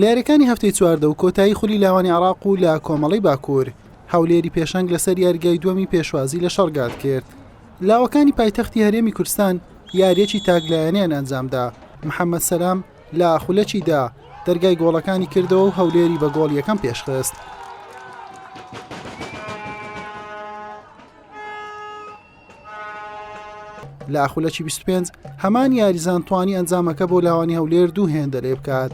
لە یاریەکانی هەفتەی چواردە و کۆتایی خولی لاوانی عراق و لە کۆمەڵی باکوور هەولێری پێشەنگ لەسەر یاریگای دووەمی پێشوازی لە شەڕگات کرد لاوەکانی پایتەختی هەرێمی کوردستان یاریەکی تاکلایەنیان ئەنجامدا محەممەد سەسلام لە خولەکیدا دەرگای گۆڵەکانی کردەوە و هەولێری بە گۆڵ یەکەم پێشخست لە ئاخولەکی 25 هەمان یاریزان توانی ئەنجامەکە بۆ لاوانی هەولێر دوو هێندە لێ بکات.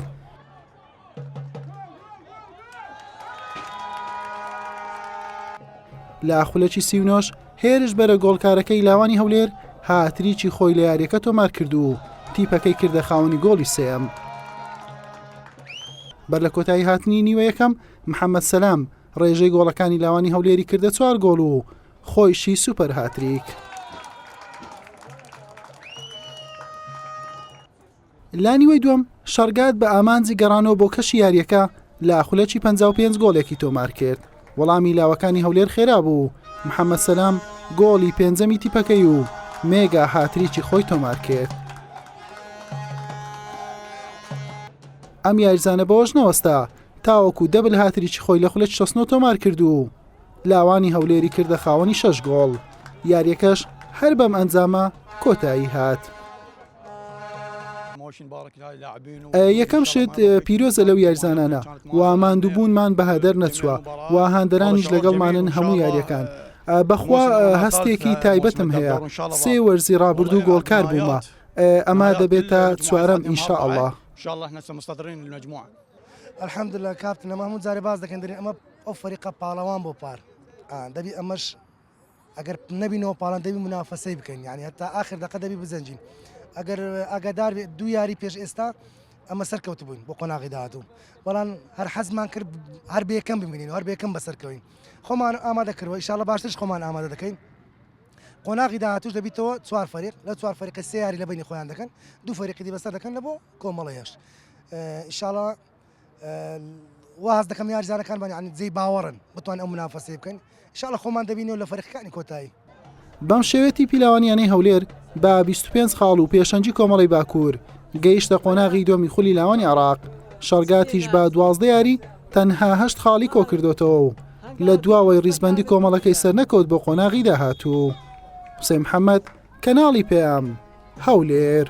لە ئاخولەکی سیونۆش هێرش بەرە گۆڵکارەکەی لاوانی هەولێر هاتریکی خۆی لە یاریەکە تۆمار کردو و تیپەکەی کردە خاوەنی گۆڵی سێم. بەر لە کۆتایی هاتنی نیوە یەکەم محەممەد سەسلام ڕێژەی گۆڵەکانی لاوانی هەولێری کردە چوار گۆڵ و خۆیشی سوپەر هاتریک. لە نیوەی دووەم شەڕگات بە ئامانجی گەڕانەوە بۆ کەشی یاریەکە لە خولەکی 55 گۆڵێکی تۆمار کرد وەڵامی لاوەکانی هەولێر خێرا بوو محەممەد سەسلام گۆڵی پێنجەمی تیپەکەی و مێگا هاتریکی خۆی تۆمار کرد ئەم یاریزانە بەوەش نەوەستا تاوەکو دەبل هاتریی خۆی لە خولە 16 تۆمار کرد و لاوانی هەولێری کردە خاوەنی شەش گۆڵ یاریەکەش هەر بەم ئەنجامە کۆتایی هات. یەکەم شت پیرۆزە لەو یارزانانە و ماندووبوونمان بەهادەر نەچووە و هاندەرانیش لەگەڵمانن هەموو یاریەکان. بەخوا هەستێکی تایبەتم هەیە سێ وەرزی ڕابردوو گۆڵکار بوومە ئەما دەبێتە چوارەم ئینشاء الله. الحمدلله کاپتن ئەمە هەموو جارێ باس دەکەن دەرێن ئەمە ئەو فەریقە پاڵەوان بۆ پار ئان دەبی ئەمەش ئەگەر نەبینەوە پاڵان دەبی منافەسەی بکەین یعنی هەتا آخر دەقە دەبی بزەنجین ئەگەر ئاگادار بێت دوو یاری پێش ئێستا ئەمە سەرکەوت بووین بۆ قۆناغی داهاتوو بەڵام هەر حەزمان کرد هەر بێکەم ببینین هەر بێکەم بەسەرکەوین خۆمان ئامادە کردەوە ئیشاڵە باشترش خۆمان ئامادە دەکەین قۆناغی داهاتوش دەبیتەوە چوار فەریق لە چوار فەریقی سیاری لە بینی خۆیان دەکەن دوو فەریقی بەسەر دەکەن لە بۆ کۆمەڵە هێشت ئیشاڵە واز دەکەم یاریزانەکانمان یعنی جێی باوەڕن بتوان ئەو منافەسەی بکەن شاڵە خۆمان دەبینەوە لە فەرقەکانی کۆتایی بەم شێوێتی پیلاوانیانەی هەولێر بە 25 خاڵ و پێشەنجی کۆمەڵی باکوور گەیشتە قۆناغی دۆمی خولی لاوانی عراق شەڕگاتیش بە دوازدە یاری تەنهاهشت خاڵی کۆکردوێتەوە و لە دواوەی ریزبندی کۆمەڵەکەی سەرنەکەوت بۆ قۆناغی داهاتوو حوسێن محەممەد کەناڵی پێیام هەولێر.